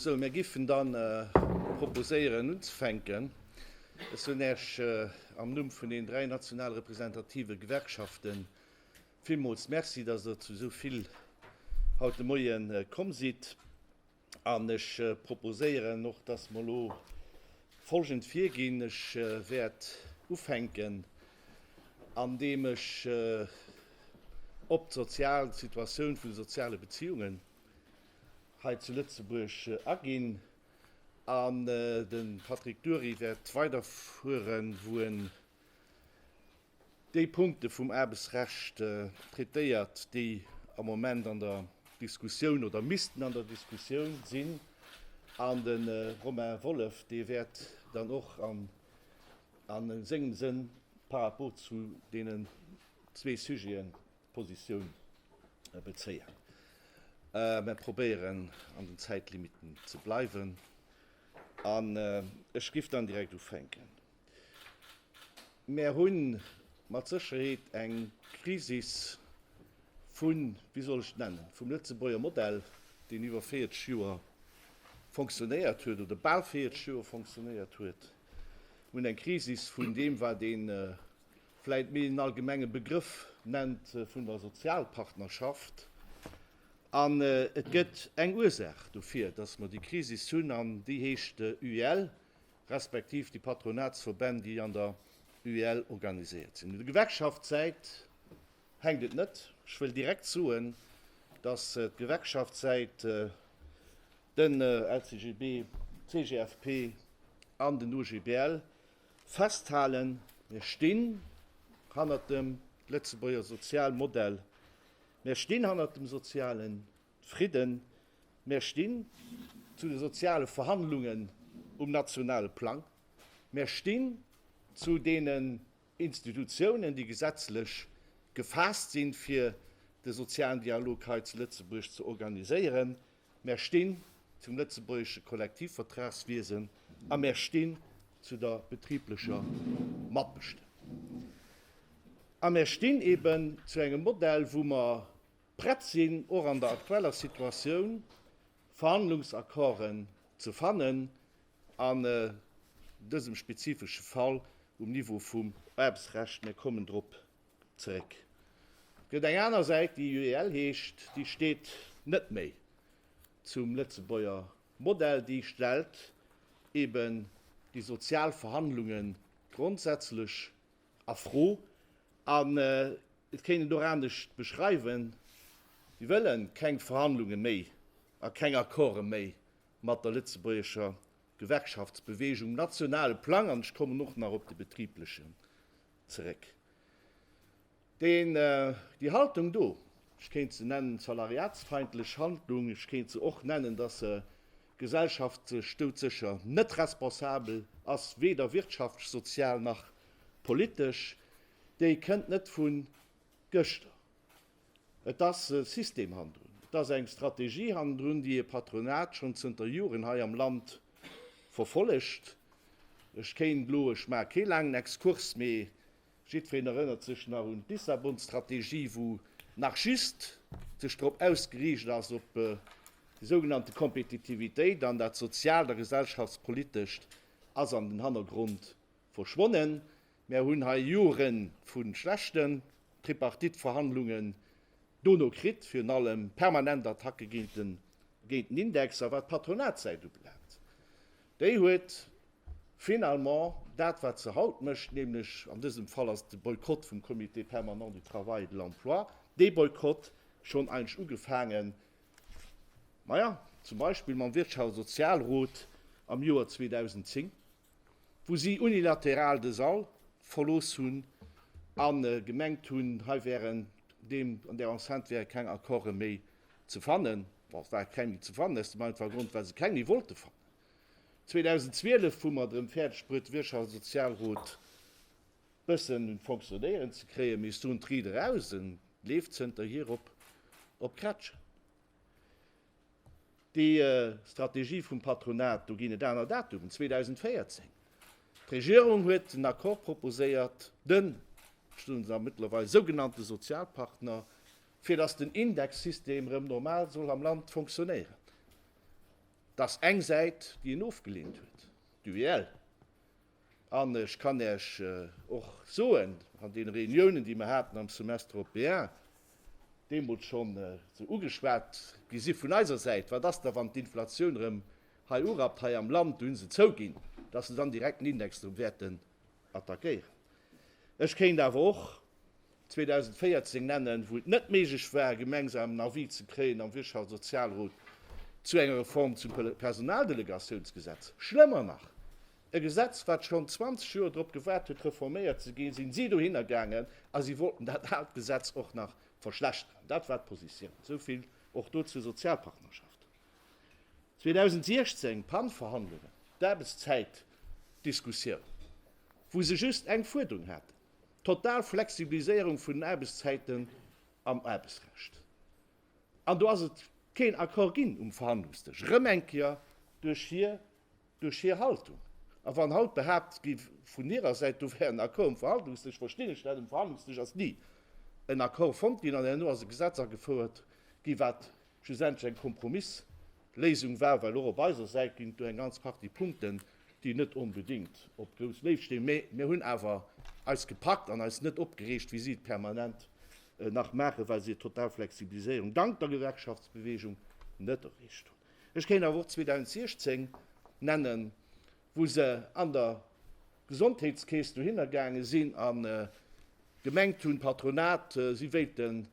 Sou, mir géifen dann proposéieren unzefänken. Ech soen Iech am Numm vun den dräi national representative Gewerkschafte villmools Merci, dass Der zu esou vill haut de Moie komm sidd. An ech proposéieren och, dass mer elo folgend virginn, Ech wäert ufänken, andeem ech op d'sozial Situatioun vun de soziale Beziehungen hei zu Lëtzebuerg aginn an de Patrick Dury wäert weiderfueren, wou en Déi Punkte vum Aarbechtsrecht traitéiert, déi am Moment an der Diskussioun oder missten an der Diskussioun sinn, an de Romain Wolff, dee wäert dann och a sengem Sënn par rapport zu deenen zwee Sujeten Positioun bezéien. Mer probéieren, an den Zäitlimitten ze bleiwen, an ech giff dann direkt ufänken. Mär hunn mat Sécherheet eng Krisis vun, wéi soll ech et nennen, vum Lëtzebuerger Modell, deen iwwer 40 Joer fonctionnéiert huet oder bal 40 Joer fonctionnéiert huet. Mir hunn eng Krisis vun deem, wat een vläicht méi en allgemenge Begrëff nennt vun der Sozialpartnerschaft. An et gëtt eng Ursaach dofir, dass mer déi Krisis hunn, an déi heescht UEL, respektiv déi Patronatsverbänn, déi an der UEL organiséiert sinn. Un der Gewerkschaftssäit hänkt et net. Ech wëll direkt soen, dass d'Gewerkschaftssäit, den LCGB, d'CGFP an den OGBL festhalen, Mir stinn hannert dem Lëtzebuerger Sozialmodell, mir stinn hannert dem sozialen Fridden. Mär stinn zu de soziale Verhandlungen um nationale Plang. Mär stinn zu deenen Institutionen, déi gesetzlech gefaasst sinn, fir de sozialen Dialog hei zu Lëtzebuerg ze organiséieren. Mär stinn zum lëtzebuergesche Kollektivvertragswiesen a mär stinn zu der betriblecher Matbestëmmung. A mär stinn eben zu engem Modell, wou mer prett sinn, och an der aktueller Situatioun Verhandlungsaccorden ze fannen, an dësem spezifesche Fall um Niveau vum Aarbechtsrecht, mir kommen drop zeréck. Et gëtt eng aner Säit, déi UEL heescht, déi steet net méi zum Lëtzebuerger Modell, déi stellt eeben déi sozial Verhandlungen grondsätzlech A Fro, an et kéint een et och anescht beschreiwen, Si wëlle keng Verhandlunge méi a keng Accorde méi mat der lëtzebuergescher Gewerkschaftsbewegung um nationale Plang, an ech kommen och nach op de betriblechen zeréck. Deen, déi Haltung do, ech kéint se nennen, salariatsfeindlech Handlung, ech kéint se och nennen, datt se D'Gesellschaft stoud secher net responsabel, ass weder wirtschaftsch, sozial nach politesch. Déi kënnt net vun gëschter. Et ass e System hannendrun. Et ass eng Strategie hannendrun, déi e Patronat schonn zënter Joren hei am Land verfollegt. Ech kéint elo, ech maache kee laangen Exkurs, mee Jiddfeen erënnert sech nach un d'Lissabon-Strategie, wou nach just sech drop ausgeriicht ass op déi sougenannte Kompetitivitéit, an dat Sozialt a Gesellschaftspolitescht ass an den Hannergrond verschwonnen. Mär hunn hei Jore vu schlechten Tripartite-Verhandlungen dono kritt, virun allem permanent Attacke géint den Index. A wat d'Patronatsäit ubelaangt, Déi huet finalement dat, wat se haut mécht, nämlech, an dësem Fall ass et de Boykott vum Comité permanent du travail et de l'emploi, dee Boykott schonn eigentlech ugefaangen, maja, zum Beispill mam Wirtschafts a Sozialrot am Joer 2010, wou si unilateral de Sall verlooss hunn a gemengt hunn, hei wären, an där Enceinte wäre keng Accorde méi Ze fannen, bon, et war keng méi ze fannen, aus dem einfache Grond, well se keng méi wollte fannen. 2012, wou mer drëm fäerdeg bruet de Wirtschafts a Sozialrot bëssen un d'Fonctionnéieren ze kréien, mee soen d'Ried eraus, e leeft zënterhier op Krätschen. Déi Strategie vum Patronat, do ginn et aner Datumen, 2014, d'Regierung huet en Accord proposéiert, den, ech soen se a mëttlerweil sougenannte Sozialpartner, fir dass den Indexsystem erëm normal soll am Land fonctionnéieren, dass eng Säit, déi en ofgelehnt huet, d'UEL, an ech kann Iech och soen, an deene Réuniounen, déi mer haten am Semestre européen, deemools schonn esou ugeschwat gi si vun eiser Säit, Wat ass da, wann d'Inflation erëm hei urappt hei am Land, do hu se zouginn, dass se dann direkt den Index erëm wäerten attackéieren. Ech kéint awer och 2014 nennen, wou et net méiglech war, e gemengsamen Avis ze kréien am Wirtschaftssozialrot zu enger Reform zum Personaldelegatiounsgesetz. Schlëmmer nach, e Gesetz, wat schonn 20 Joer drop gewaart huet, reforméiert ze ginn, si si dohinner gaangen a si wollten dat aalt Gesetz och nach verschlechteren. Dat war d'Positioun. Esou vill och do zur Sozialpartnerschaft. 2016, Pan-Verhandlungen, d'Aarbechtszäitdiskussioun, wou se just eng Fuerderung haten, total Flexibiliséierung vun den Aarbechtszäiten am Aarbechtsrecht. An do ass et keen Accord ginn um Verhandlungsdësch, erëm eng Kéier duerch hir, duerch hir Haltung. A wann haut behaapt gi vun hirer Säit, do wär en Accord um Verhandlungsdësch, verstinn ech dat, um Verhandlungsdësch ass ni en Accord fonnt ginn an herno ass e Gesetz agefouert gi wat, schlussendlech eng Kompromissléisung war, well och op eiser Säit ginn et do eng ganz Partie Punkten, déi net onbedéngt op grouss Léift stinn, mä mir hunn awer eis gepackt an eis net opgereegt, wéi si et permanent nach maachen, well si total Flexibiliséierung dank der Gewerkschaftsbewegung net erreecht hunn. Ech kéint awer och 2016 nennen, wou se an der Gesondheetskeess dohinner gaange sinn a gemengt hunn, d'Patronat, si wéilten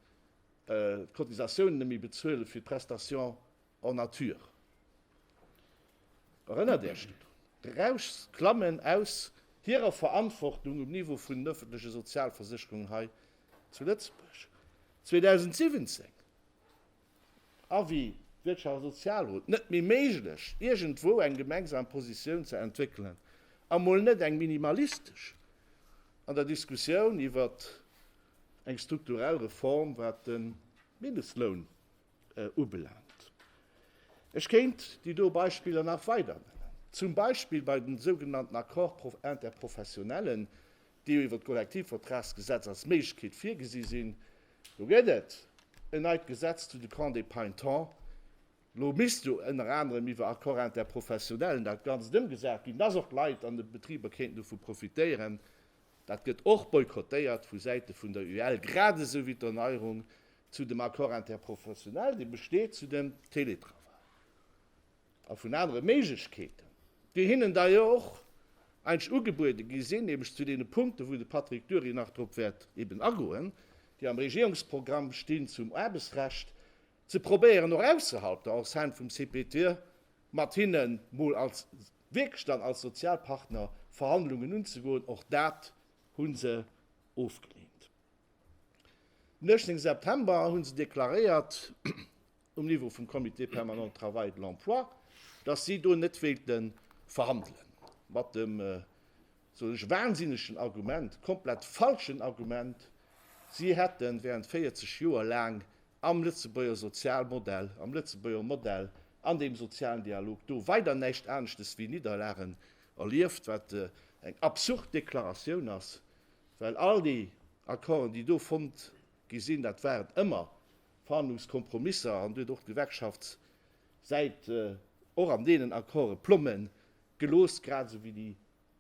d'Cotisatiounen net méi bezuelen fir d'Prestation en nature. Erënnert Är Iech drun? D'Rauschs klammen aus hirer Verantwortung um Niveau vun den ëffentleche Sozialversécherungen hei zu Lëtzebuerg. 2017, Avis Wirtschafts a Sozialrot, net méi méiglech, iergendwou eng gemengsam Positioun ze entwéckelen, a mol net eng minimalistesch, an der Diskussioun iwwert Eng strukturell Reform wat de Mindestloun ubelaangt, ech kéint déi do Beispiller nach weider nennen, zum Beispill bei den sougenannten Accords interprofessionnellen, déi jo iwwer d'Kollektivvertragsgesetz als Méiglechkeet virgesi sinn, do gëtt et en neit Gesetz zu de Camps des Paintons, lo misst jo ënner anerem iwwer Accords interprofessionnellen dat Ganzt ëmgesat ginn, dass och d'Leit an de Betriber kéinten dovu profitéieren, Dat gëtt och boykottéiert vu Säite vun der UEL, grad esou wéi d'Erneierung zu dem Accord interprofessionnel, dee besteet zu dem Teletravail a vun anere Méiglechkeeten, déi hinnen da jo och eigentlech ugebuede gi sinn, nämlech zu deene Punkten, wou de Patrick Dury nach drop wäert eben agoen, déi am Regierungsprogramm stinn zum Aarbechtsrecht, ze probéieren och ausserhalb der Enceinte vum CPT mat hinne mol als wierklech dann als Sozialpartner Verhandlungen unzegoen, och dat hu se ofgeleent. Den 18 September hu se deklaréiert, um Niveau vum Comité permanent de travail et de l'emploi, datt si do net wéilte verhandelen, mat dem, soen ech, wahnsinnegen Argument, komplett falschen Argument, si hätte während 40 Joer laang am Lëtzebuerger Sozialmodell, am Lëtzebuerger Modell an deem sozialen Dialog do weider näischt aneschtes wéi Nidderlagen erlieft, wat eng absurd Deklaratioun ass, well all déi Accorden, déi do fonnt gi sinn, dat waren ëmmer Verhandlungskompromisser an Dir huet och d'Gewerkschaftssäit och an deenen Accorde plomme gelooss, grad esou wéi déi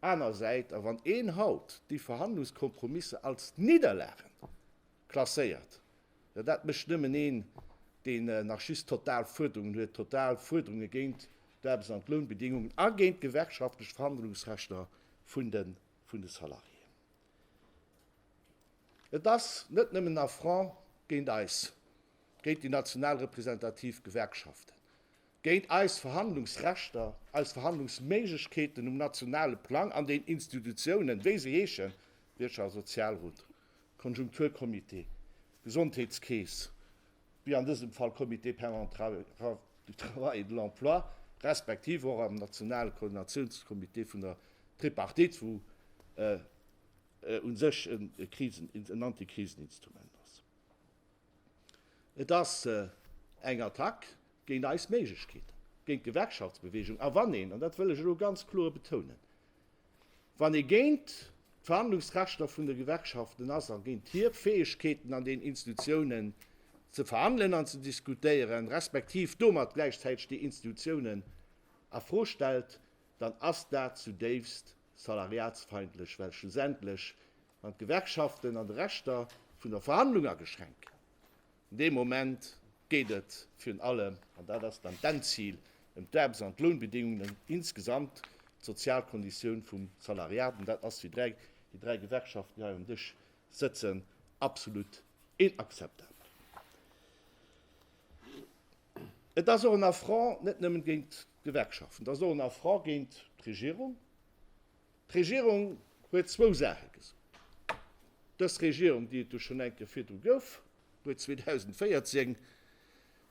aner Säit. A wann een haut déi Verhandlungskompromisser als Nidderlagen klasséiert, Jo, dat mécht nëmmen een, deen nach just total Fuerderungen huet, total Fuerderunge géint d'Aarbechts an d'Lounbedingungen a géint d'gewerkschaftlech Verhandlungsrechter vun de Salariéen. Et ass net nëmmen en Affront géint eis, géint déi national representativ Gewerkschaften, géint eis Verhandlungsrechter, eis Verhandlungsméiglechkeeten um nationale Plang an den Institutionen, wéi se heeschen, Wirtschafts a Sozialrot, Konjunkturcomité, Gesondheetskeess, wéi an dësem Fall Comité permanent du travail et de l'emploi, respektiv och am nationale Koordinatiounscomité vun der Tripartite, wou u sech e Krisen, en Antikriseninstrument ass. Et ass eng Attack géint eis Méiglechkeeten, géint d'Gewerkschaftsbewegung. A wann een, an dat wëll ech elo ganz kloer betounen, wann ee géint d'Verhandlungsrechter vun de Gewerkschaften ass a géint hir Fäegkeeten an den Institutionen ze verhandelen an ze diskutéieren, respektiv domat gläichzäiteg déi Institutionen a Fro stellt, dann ass dat zudéifst salariatsfeindlech, well schlussendlech Wann d'Gewerkschaften an de Rechter vun der Verhandlung ageschränkt ginn, dee Moment geet et virun allem, an dat ass dann d'Endzil, ëm d'Aarbechts an d'Lounbedingungen insgesamt, d'Sozialkonditioun vum Salariat. An dat ass, wéi dräi, déi dräi Gewerkschaften hei um Dësch sëtzen, absolut inakzeptabel. Et ass och en Affront net nëmmen géint d'Gewerkschaften, et ass och en Affront géint d'Regierung, D'Regierung huet zwou Saache gesot. Dës Regierung, déi et jo schonn eng Kéier virdru gouf, huet 2014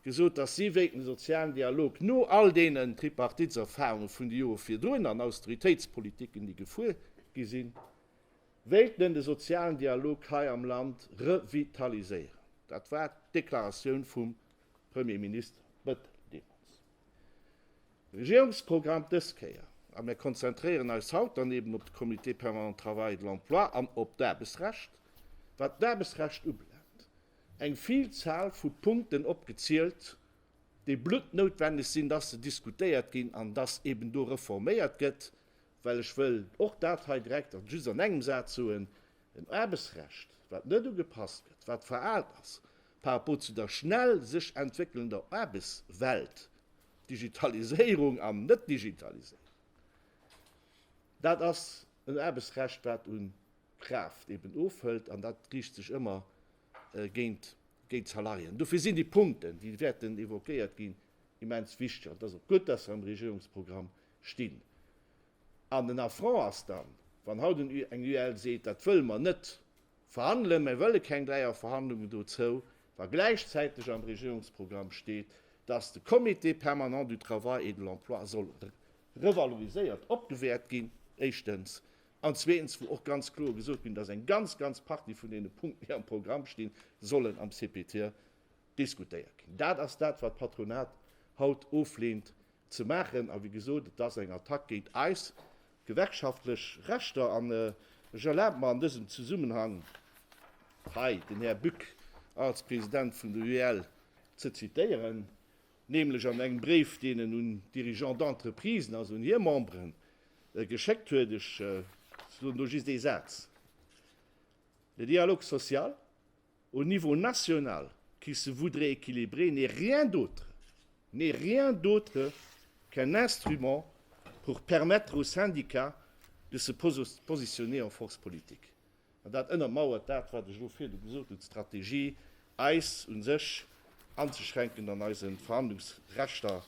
gesot, dass si wéilt de sozialen Dialog no all deenen Tripartiteserfahrunge vun de Jore virdrun an Austeritéitspolitiken, déi gefuer gi sinn, wéilt en de sozialen Dialog hei am Land revitaliséieren. Dat war d'Deklaratioun vum Premier Minister Bettel deemools. Regierungsprogramm dës Kéier, a mir konzentréieren eis haut dann eben op de Comité permanent Travail et de l'emploi an op d'Aarbechtsrecht, wat d'Aarbechtsrecht ubelaangt, eng Vielzahl vu Punkten opgezielt, déi bluttnoutwenneg sinn, dass se diskutéiert ginn an dass eben do reforméiert gëtt, well ech wëll och dat hei direkt an just an engem Saz soen, en Aarbechtsrecht, wat net ugepasst gëtt, wat veraalt ass par rapport zu der schnell sech entwéckelnder Aarbechtswelt, Digitaliséierung an Net-Digitaliséierung, dat ass en Aarbechtsrecht, wat u Kraaft eben ofhëlt, an dat riicht sech ëmmer géint d'Salariéen. Dofir sinn déi Punkten, déi wäerten évoquéiert ginn, immens wichteg. An et ass och gutt, dass se am Regierungsprogramm stinn. An den Affront ass dann, wann haut eng UEL seet, dat wëlle mer net. verhandelen, mä wëlle keng Dräierverhandlungen dozou, wa gläichzäiteg am Regierungsprogramm steet, dass de Comité permanent du travail et de l'emploi soll revaloriséiert, opgewäert ginn, éischtens, an zweetens, wou och ganz kloer gesot ginn, dass eng ganz, ganz Partie vun deene Punkten, déi am Programm stinn, sollen am CPTE diskutéiert ginn. Dat ass dat, wat d'Patronat haut oflehnt, ze maachen. A wéi gesot, et ass eng Attack géint eis gewerkschaftlech Rechter. An ech erlabe mer an dësem Zesummenhang hei den Här Buck als President vun der UEL ze zitieren, nämlech an engem Bréif, deen en un d'Dirigeants d'entreprisen, also un hir Memberen, geschéckt huet. Ech soen do just ee Saz, Le dialogue social, Au niveau national, qui se voudrait équilibré n'est rien d'autre, n'est rien d'autre qu'un instrument pour permettre aux syndicats de se positionner en force politique. An dat ënnermauert dat, wat ech elo virdu gesot hunn, d'Strategie, eis u sech anzeschränken an eise Verhandlungsrechter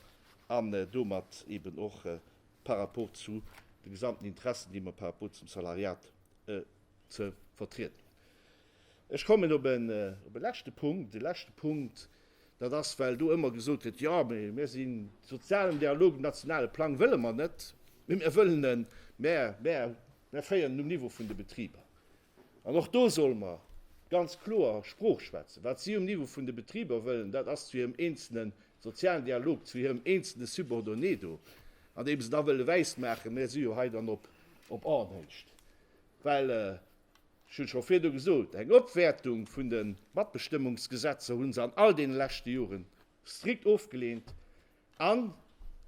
an domat eben och par rapport zu de gesamten Interessen, déi mer par rapport zum Salariat ze vertrieden hunn. Ech kommen op e leschte Punkt. E leschte Punkt, dat ass, well do ëmmer gesot gëtt, Jo, mä mir sinn de sozialen Dialog, den nationale Plang wëlle mer net, mä mir wëllen en, mä mir féieren en um Niveau vun de Betriber. An och do solle mer ganz kloer Sprooch schwätzen. Wat si um Niveau vun de Betriber wëllen, dat ass zu hirem eenzele sozialen Dialog, zu hirem eenzele Subordonné do, an deem se da wëlle wäismaachen, Mir si jo hei dann op Aarnhecht. Well Ech hunn scho virdu gesot, eng Opwäertung vun de Matbestëmmungsgesetzer hu se an all deene leschte Jore strikt ofgeleent an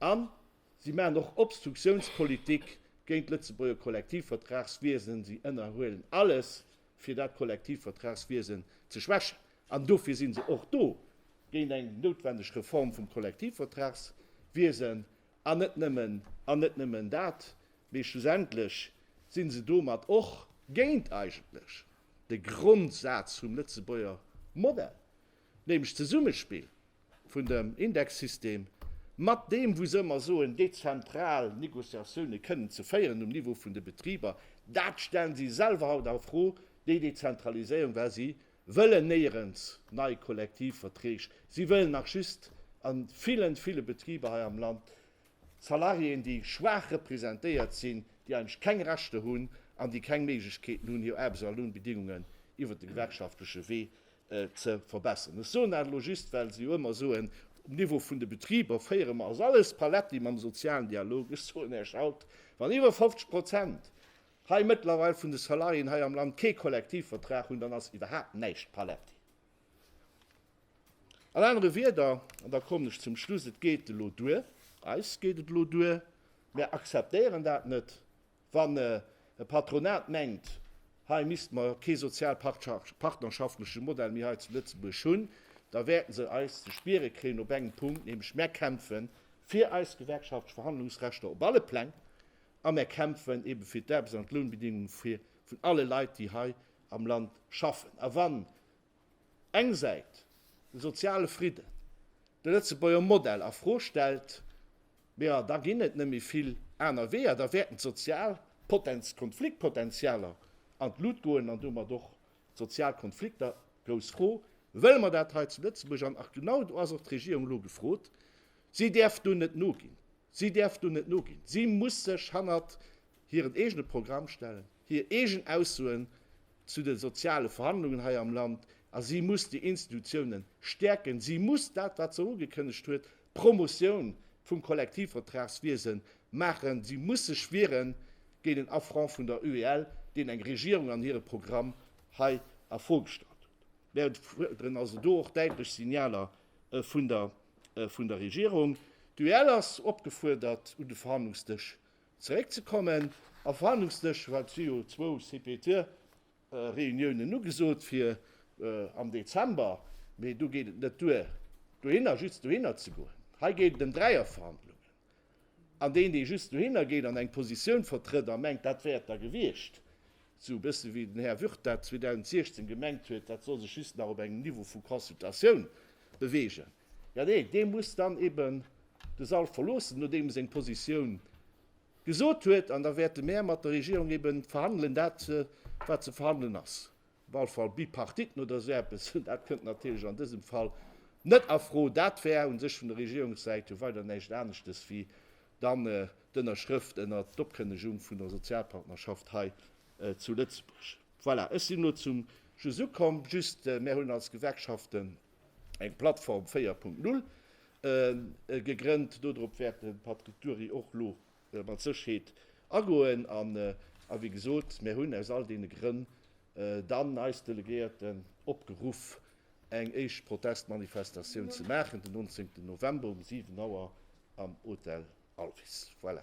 an si maachen och Obstruktiounspolitik géint d'Lëtzebuerger Kollektivvertragswiesen. Si ënnerhuelen alles, fir dat Kollektivvertragswiesen ze schwächen. An dofir si se och do, géint eng noutwendeg Reform vum Kollektivvertragswiesen. An net nëmmen, an net nëmmen dat, mee schlussendlech si se domat och géint eigentlech de Grondsaz vum Lëtzebuerger Modell, nämlech d'Zesummespill vun dem Indexsystem mat deem, wou se ëmmer soen, dezentral Négociatioune kënnen ze féieren um Niveau vun de Betriber. Dat stellen si selwer haut a Fro, déi Dezentraliséierung, well si wëllen néierens nei Kollektivverträg, si wëllen nach just a villen, ville Betriber hei am Land Salariéen, déi schwaach representéiert sinn, déi eigentlech keng Rechter hunn an déi keng Méiglechkeeten hunn, hir Aarbechts a Lounbedingungen iwwert de gewerkschaftleche Wee ze verbessern. Ech soen dat elo just, well se jo ëmmer soen, um Niveau vun de Betriber féiere mer, ass alles paletti mam sozialen Dialog. Ech soen Iech haut, wann iwwer 50 Prozent hei mëttlerweil vun de Salariéen hei am Land kee Kollektivvertrag hunn, dann ass iwwerhaapt näischt paletti. An anere Wieder, an da kommen ech zum Schluss, et geet elo duer, eis geet et elo duer, mär akzeptéieren dat net, wann e Patronat mengt, hei misste mer kee sozialpartnerschaftlesche Modell méi hei zu Lëtzebuerg hunn, da wäerte se eis ze spiere kréien op engem Punkt, nämlech mär kämpfe fir eis gewerkschaftlech Verhandlungsrechter op alle Pläng, a mär kämpfen ebe fir d'Aarbechts an d'Lounbedingunge vun alle Leit, déi hei am Land schaffen. A wann eng Säit de soziale Fridden, de Lëtzebuerger Modell a Fro stellt, jo da ginn et net méi vill aner Weeër, da wäerten d'sozial Konfliktpotentialer an d'Lut goen an domat och d'sozial Konflikter. Grouss Fro, wëlle mer dat hei zu Lëtzebuerg? An genau do ass och d'Regierung elo gefrot, si däerf do net noginn. Si däerf do net noginn. Si muss sech hannert hiren eegene Programm stellen, hir eegen Aussoen zu de soziale Verhandlungen hei am Land, a si muss déi Institutionen stäerken. Si muss dat, wat se ugekënnegt huet, d'Promotioun vum Kollektivvertragswiese maachen. Si muss sech wiere géint en Affront vun der UEL, deen eng Regierung an hire Programm hei a Fro gestallt huet. Mir fuerderen also do och däitlech Signaler vun der Regierung. D'UEL ass opgefuerdert un de Verhandlungsdësch zeréckzekommen. Am Verhandlungsdësch war et si jo zwou CPT-Reuniounen ugesot fir am Dezember, mee do geet et net duer dohinner just dohinner ze goen. Hei geet et ëm Dräierverhandlungen. An deen, dee just dohinner geet an eng Positioun vertrëtt a mengt, dat wär et da gewiescht, esou e bësse wéi den Här Würth dat 2016 gemengt huet, dat soll sech just nach op engem Niveau vu Consultatioun beweegen, jo, dee, dee muss dann eben de Sall verloossen, nodeem e seng Positioun gesot huet. An da wäerte mäer mat der Regierung eben verhandelen, dat, wat ze verhandelen ass. Walfall Bipartiten oder esou eppes, dat kënnt natierlech an dësem Fall net a Fro. Dat wär u sech vun der Regierungssäit jo weider näischt aneschtes wéi dann d'Ënnerschrëft ënnert d'Opkënnegung vun der Sozialpartnerschaft hei zu Lëtzebuerg. Voilà, ech sinn elo zum Schluss ukomm. Just, mär hunn als Gewerkschaften eng Plattform 4.0 gegrënnt. Dodrop wäert de Patrick Dury och elo mat Sécherheet agoen. An, wéi gesot, mir hunn aus all deene Grënn dann eis Delegéierten opgeruff, eng éischt Protestmanifestatioun ze maachen den 19 November um 7 Auer am Hotel Alvis. Voilà.